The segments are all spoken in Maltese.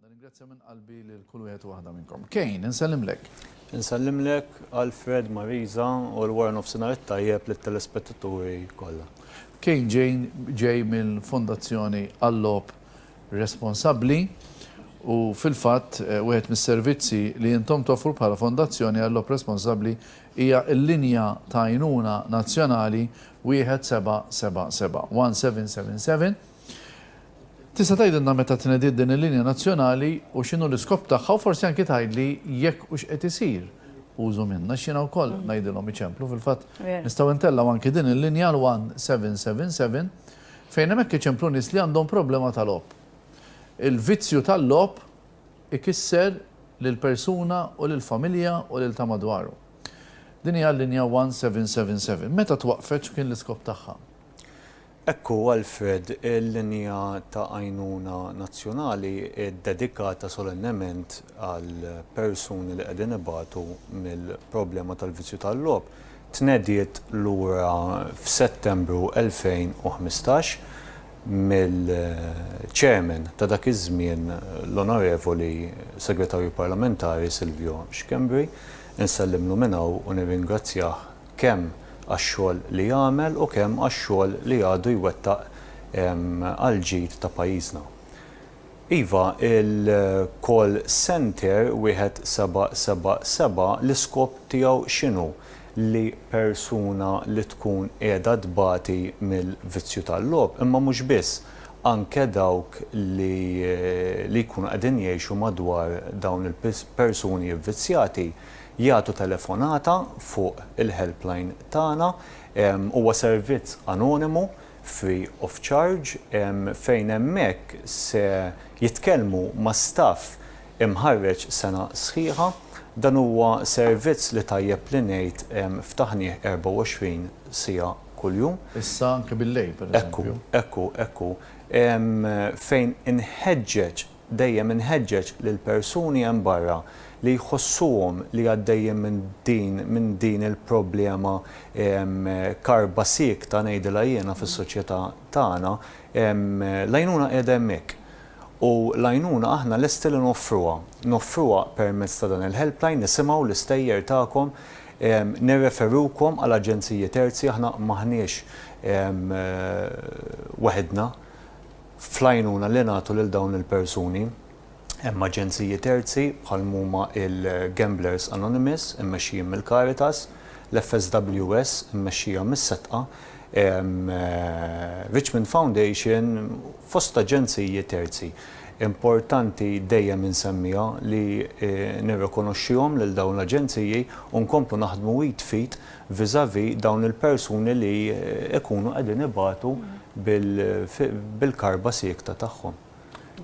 Nirringrazzja minn qalbi lil kull wieħed u waħda minnkom. Kejn, insellimlek. Insellimlek, Alfred, Marisa, u l-wara nofsinhar it-tajjeb lit-telespettaturi kollha. Kejn ġejn ġej mill-Fondazzjoni għal-Logħob Responsabbli u fil-fatt wieħed mis-servizzi li intom toffru bħala Fondazzjoni għal-Logħob Responsabbli hija l-linja ta' għajnuna nazzjonali 1777, 1777. Tista' tgħidilna meta tnediet din il-linja nazzjonali u x'inhu l-iskop tagħha u forsi anki tgħidli jekk hux qed isir użu minnha għax jiena wkoll ngħidilhom iċemplu fil-fatt nistgħu ntellgħu anki din il-linja għal 1777 fejn hemmhekk iċemplu nies li għandhom problema tal-logħob. Il-vizzju tal-logħob. ikisser lill-persuna u lill-familja u lil ta' madwaru. Din hija l-linja 1777. Meta twaqqfet x'kien l-iskop tagħha? Hekk hu, Alfred, il-linja ta' għajnuna nazzjonali hi ddedikata solennement għall-persuni li qegħdin ibatu mill-problema tal-vizzju tal-logħob. Tnediet lura f'Settembru 2015. mill-Chairman ta' dak iż-żmien l-Onorevoli Segretarju Parlamentari Silvio Schembri, insellimlu minn hawn u nirringrazzjah kemm għax-xogħol li għamel u kemm għax-xogħol li għadu jwettaq għall-ġid ta' pajjiżna. Iva, il-call centre 1777 l-iskop tiegħu x'inhu? Li persuna li tkun qiegħda tbati mill-vizzju tal-logħob, imma mhux biss, anke dawk li li jkunu qegħdin jgħixu madwar dawn il-persuni vvizzjati jagħtu telefonata fuq il-helpline tagħna. Huwa servizz anonimu free of charge, fejn hemmhekk se jitkellmu ma' staff imħarreġ sena sħiħa. Dan huwa servizz li tajjeb li ngħid ftaħnieh 24 siegħa kuljum. Issa anke bil-lejl, pereżempju. Ekku, ekku, ekku. Fejn inħeġġeġ Dejjem inħeġġeġ lill-persuni hemm barra li jħossuhom li għaddejjin minn din minn din il-problema karba siekta ngħidilha jiena fis-soċjetà tagħna, l-għajnuna qiegħda hemmhekk. U l-għajnuna aħna lesti li noffruha. Noffruha permezz ta' dan il-helpline, nisimgħu l-istejjer tagħkom, nirreferukom għal aġenziji terzi, aħna m'aħniex waħidna. Fl-għajnuna li nagħtu lil dawn il-persuni hemm aġenziji terzi bħal m'huma il-Gamblers Anonymous immexxijin mill-Caritas, l-FSWS immexxija mis-Setqa, Richmond Foundation fost aġenziji terzi. Importanti dejjem insemmiha li nirrikonoxxihom lil dawn l-aġenziji u nkomplu naħdmu id f'id vis-à-vis dawn il-persuni li jkunu qegħdin ibatu bil-karba siekta tagħhom.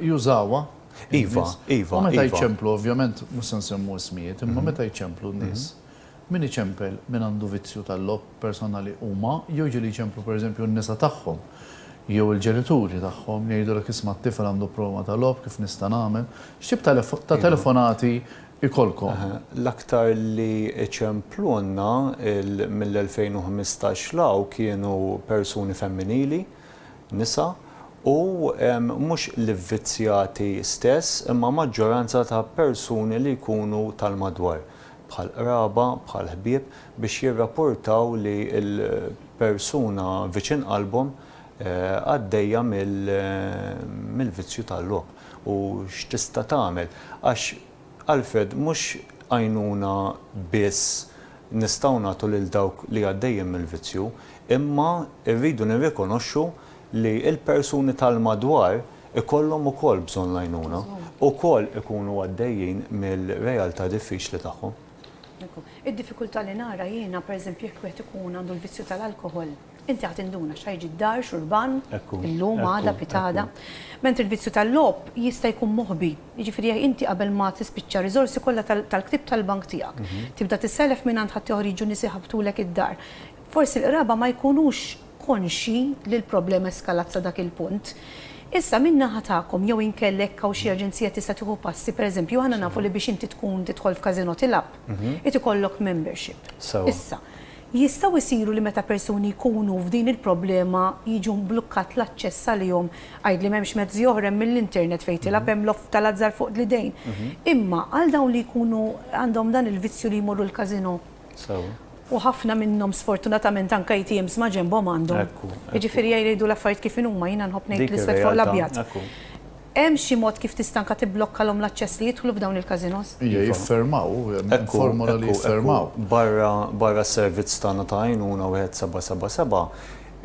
Jużawha? Iva, iva. U meta jċemplu, ovvjament mhux se nsemmu ismijiet, imma meta jċemplu n-nies, min iċempel min għandu vizzju tal-logħob, persuna li huma jew jiġu li jċemplu pereżempju n-nisa tagħhom jew il-ġenituri tagħhom jgħidulek isma' t-tifel għandu problema ta' logħob kif nista' nagħmel? X'tip ta' telefonati ikollkom. L-aktar li iċemplunna mill-2015 'l hawn kienu persuni femminili, nisa, u mhux l-ivvizzjati stess imma maġġoranza ta' persuni li jkunu tal-madwar, bħal qraba, bħal ħbieb, biex jirrapurtaw li l-persuna viċin qalbhom għaddejja mill-vizzju tal-logħob u x'tista' tagħmel għax Alfred mhux għajnuna biss nistgħu nagħtu lil dawk li għaddejjin mill-vizzju imma rridu nirrikonoxxu li l-persuni tal-madwar ikollhom ukoll bżonn l-għajnuna, ukoll ikunu għaddejjin mir-realtà diffiċli tagħhom. Id-diffikultà li nara jiena pereżempju jekk wieħed ikun għandu l-vizzju tal-alkoħol, Inti ħa tinduna x'ħa jiġi d-dar, xurban, illum, għada, pitgħada. Mentri l-vizzju tal-logħob jista' jkun moħbi. Jiġifieri jekk inti qabel ma tispiċċa r-riżorsi kollha tal-ktieb tal-bank tiegħek, tibda tissellef mingħand ħaddieħor jiġu nies iħabbtulek id-dar. Forsi l-qraba ma jkunux konxji li l-problema eskalat sa dak il-punt. Issa min-naħa tagħkom jew inkella jekk hawn xi aġenzija tista' tieħu passi, pereżempju aħna nafu li biex inti tkun tidħol f'casinò tilgħab, irid ikollok membership. Issa. Jistgħu jsiru li meta persuni jkunu f'din il-problema jiġu mblukkat l-aċċess għalihom, għidli m'hemmx mezzi oħra hemm mill-internet fejn tilgħab hemm loft tal-azzar fuq l-idejn. Imma għal dawn li jkunu għandhom dan il-vizzju li jmorru l-casino. Sew. U ħafna minnhom sfortunatament anke ATMs ma' ġenbhom għandhom. Ekku, ekku. Jiġifieri jgħidu l-affarijiet kif inhuma, jiena nħobb ngħid Dik l-iswed fuq ir-realtà, l-abjad. ekku. Hemm xi mod kif tista' anke tibblokkalhom l-aċċess li jidħlu f'dawn il-każinos? Iva. Jiffermaw, hemm formola li jiffermaw. Barra s-servizz tagħna ta' għajnuna 1777,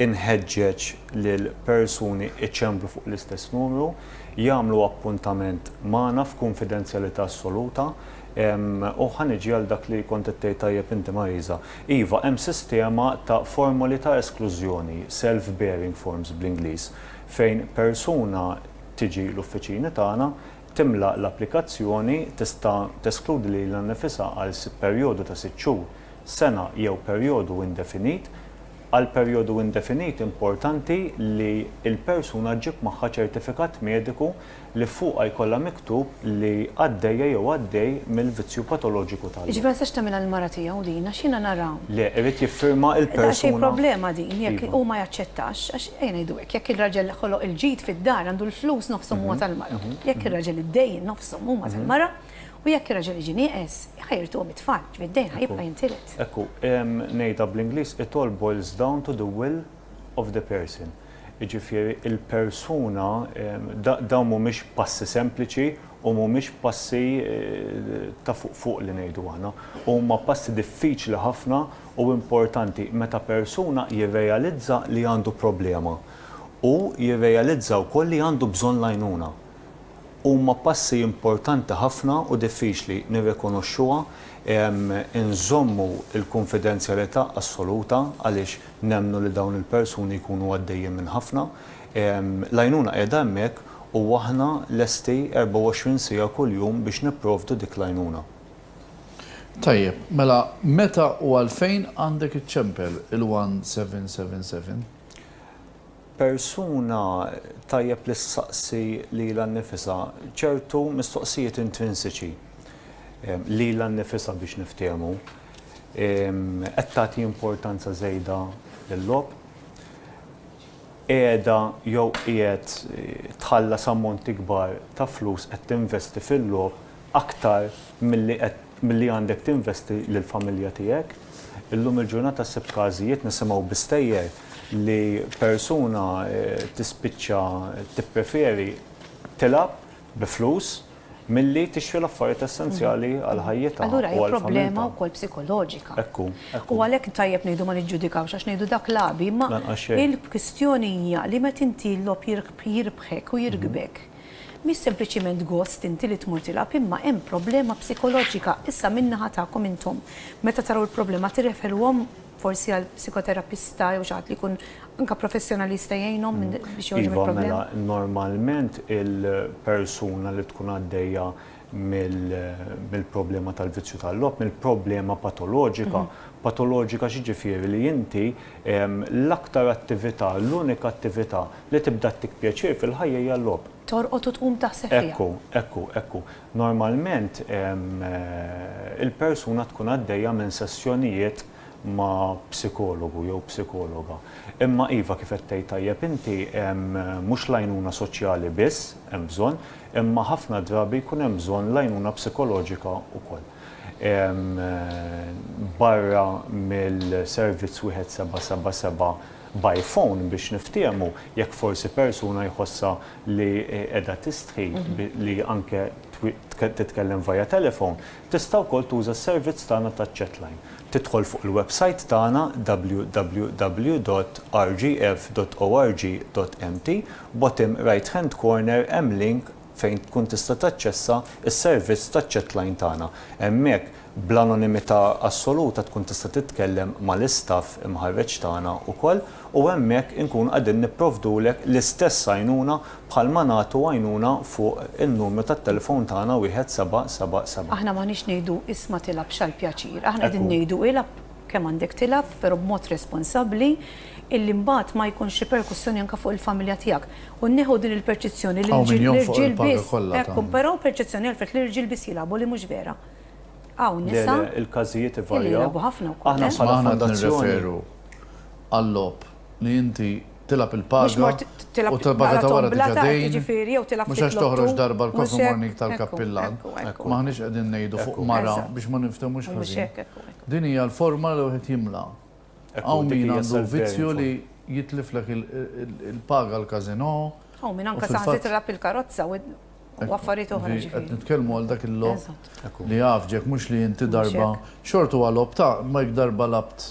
inħeġġeġ lil persuni iċembru fuq l-istess numru, jagħmlu appuntament magħna f'kunfidenzjalità assoluta, u ħa niġi għal dak li kont qed tgħid tajjeb inti Marisa. Iva, hemm sistema ta' formoli ta' esklużjoni, self-bearing forms bl-Ingliż, Fejn persuna tiġi l-uffiċini tagħna, timla l-applikazzjoni, tista' teskludi lilha nnifisha għal perjodu ta' sitt xhur, sena jew perjodu indefinit. Għal perjodu indefinit importanti li l-persuna ġġib magħha ċertifikat mediku li fuqha jkollha miktub li għaddejja jew għaddej mill-vizzju patoloġiku tal-. Jiġifieri ma tistax tagħmilha l-mara tiegħu din għax jiena nara. Le, irid jiffirma l-persuna. Daqsxejn problema din jekk hu ma jaċċettax għax ejja ngħidu hekk, jekk ir-raġel ħoloq il-ġid fid-dar għandu l-flus nofshom huma tal-mara. Jekk ir-raġel id-dejn nofshom huma tal-mara u jekk ir-raġel jiġi nieqes ħa jirtuhom it-tfal, ġifieri d-dejn ħa jibqa' jintiret. Ekku, ngħidha bl-Ingliż it all boils down to the will of the person. Jiġifieri l-persuna, dawn mhumiex passi sempliċi u mhumiex passi ta' fuq fuq li ngħidu aħna. Huma passi diffiċli ħafna u importanti meta persuna jirrealizza li għandu problema u jirrealizza wkoll li għandu bżonn l-għajnuna. Huma passi importanti ħafna u diffiċli, nirrikonoxxuha, inżommu l-kunfidenzjalità assoluta għaliex nemmnu li dawn il-persuni jkunu għaddejjin minn ħafna. L-għajnuna qiegħda hemmhekk u aħna lesti 24 siegħa kuljum biex nipprovdu dik l-għajnuna. Tajjeb, mela meta u għalfejn għandek iċċempel il-1777? Persuna tajjeb li ssaqsi lilha nnifisha ċertu mistoqsijiet intrinsiċi lilha nnifisha biex niftehmu. Qed tagħti importanza żejda lil-logħob? Qiegħda jew qiegħed tħallas ammonti kbar ta' flus qed tinvesti fil-logħob aktar milli qed milli għandek tinvesti lill-familja tiegħek. Illum il-ġurnata ssibt każijiet, nisimgħu bi stejjer, li persuna tispiċċa tippreferi tilgħab bi flus milli tixtri l-affarijiet essenzjali għal ħajjitha u għall-familja tagħha. Allura hija problema wkoll psikoloġika. Hekk hu, hekk hu. U għalhekk tajjeb ngħidu ma niġġudikawx għax ngħidu dak lagħbi, imma il-kwistjoni hija li meta inti l-logħob jirbħek u jirkbek, Mhix sempliċiment gost inti li tmur tilgħab imma hemm problema psikoloġika issa min-naħa tagħkom intom. Meta taraw il-problema tirreferuhom forsi għal psikoterapista jew xi ħadd li jkun anke professjonalista jgħinhom biex joħorġu mill-problema? Iva mela normalment il-persuna li tkun għaddejja mill-problema tal-vizzju tal-logħob, mill-problema patoloġika. Patoloġika x'jiġifieri li inti l-aktar attività, l-unika attività li tibda ttik pjaċir fil-ħajja hija l-logħob. Torqod u tqum taħseb fiha. Ekku, ekku, ekku. Normalment il-persuna tkun għaddejja minn sessjonijiet ma' psikologu jew psikologa. Imma iva, kif qed tgħid tajjeb inti, mhux l-għajnuna soċjali biss hemm bżonn, imma ħafna drabi jkun hemm bżonn l-għajnuna psikoloġika wkoll. Barra mill-servizz wieħed seba' seba' seba' by phone biex niftiehmu, jekk forsi persuna jħossha li qiegħda tistħi li anke titkellem via telephone, Tista' wkoll tuża s-servizz tagħna ta' chatline. Tidħol fuq il-websajt tagħna www.rgf.org.mt, bottom right-hand corner hemm link fejn tkun tista' taċċessa s-servizz ta' chatline tagħna. Hemmhekk, bl-anonimità assoluta tkun tista' titkellem mal-istaff imħarreġ tagħna wkoll. u hemmhekk inkunu qegħdin nipprovdulek l-istess għajnuna bħalma nagħtu għajnuna fuq in-numru tat-telefown tagħna wieħed seba' seba' seba'. Aħna m'aħniex ngħidu isma' tilgħabx għall-pjaċir, aħna qegħdin ngħidu ilgħab kemm għandek tilgħab però b'mod responsabbli illi mbagħad ma jkunx riperkussjoni anke fuq il-familja tiegħek u nneħħu din il-perċizzjoni li l-irġiel biss, ekku, però perċizzjoni għalfet li l-irġiel biss jilgħabu li mhux vera. Hawn nisa illi jilgħabu ħafna wkoll, eh. għal-logħob li inti tilgħab il-paga u tal-paga ta' wara diġà dejn, mhux għax toħroġ darba l-coffee morning tal-kappillan. M'aħniex qegħdin ngħidu fuq mara biex ma ninftemux ħażin. Din hija l-forma li wieħed jimla. Hawn min għandu vizzju li jitliflek il-paga għall-casino. Hawn min anke saħansitra tilgħab il-karozza u affarijiet oħra ġifieri. Qed nitkellmu għal dak il-logħob li jgħaffġek mhux li inti darba xort huwa logħob ta' imma jekk darba lgħabt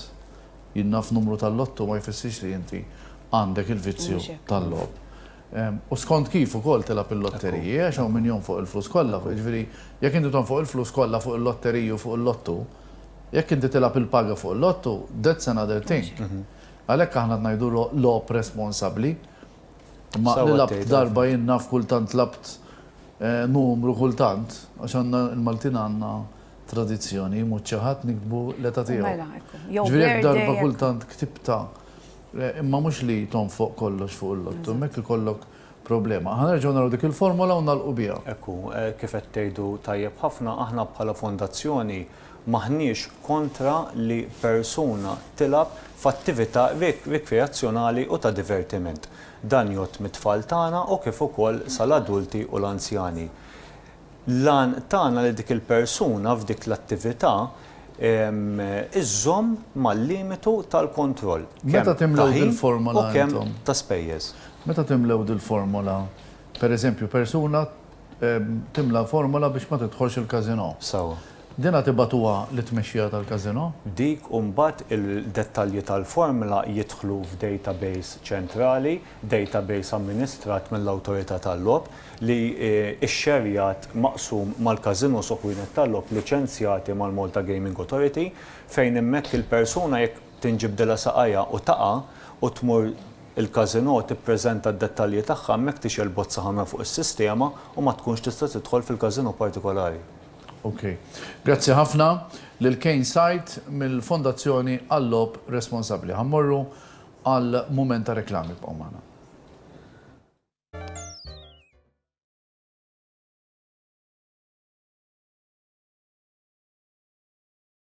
jien naf numru tal-lotto ma jfissirx li inti għandek il-vizzju tal-logħob. U skont kif ukoll tilgħab il-lotteriji għax hawn min jonfoq il-flus kollha, jiġifieri jekk inti tonfoq il-flus kollha fuq il-lotteriji u fuq il-lottu, jekk inti tilgħab il-paga fuq il-lottu, that's another thing. Għalhekk aħna qed ngħidu logħob responsabbli Ma nilabt darba jien naf kultant labt numru kultant għax għandna l-Maltin għandna tradizzjoni jmut xi ħadd niktbu l-età tiegħu. Ġifieri jekk darba kultant ktibtha imma mhux li tonfoq kollox fuq il-lotto hemmhekk ikollok problema. Ħa nerġgħu naraw dik il-formola u nagħlqu biha. Hekk hu, kif qed tgħidu tajjeb ħafna, aħna bħala fondazzjoni, M'aħniex kontra li persuna tilgħab f'attività rikreazzjonali u ta' divertiment. Dan jgħodd mit-tfal tagħna u kif ukoll sal-adulti u l-anzjani. L-għan tagħna li dik il-persuna f'dik l-attività iżżomm mal-limitu tal-kontroll kemm ta' ħin u kemm ta' spejjeż. Meta timlew dil-formola, pereżempju persuna timla formola biex ma tidħolx il-casino. Sewwa. Dinha tibagħtuha lit-tmexxija tal-casino. Dik u mbagħad il-dettalji tal-formla jidħlu f'database ċentrali, database amministrat mill-Awtorità tal-Logħob, li xxerjat maqsum mal-casinos u ħwienet tal-logħob liċenzjati mal-Malta Gaming Authority, fejn hemmhekk il-persuna jekk Tinġibdilha saqajha u taqa' u tmur il-casino tippreżenta d-dettalji tagħha hemmhekk tixgħel bozza ħamra fuq is-sistema u ma tkunx tista' tidħol fil-casino partikolari. Ok. Grazzi ħafna lil Kane Said mill-Fondazzjoni għal-Logħob Responsabbli. Ħa mmorru għal mument ta' reklami. Ibqgħu magħna.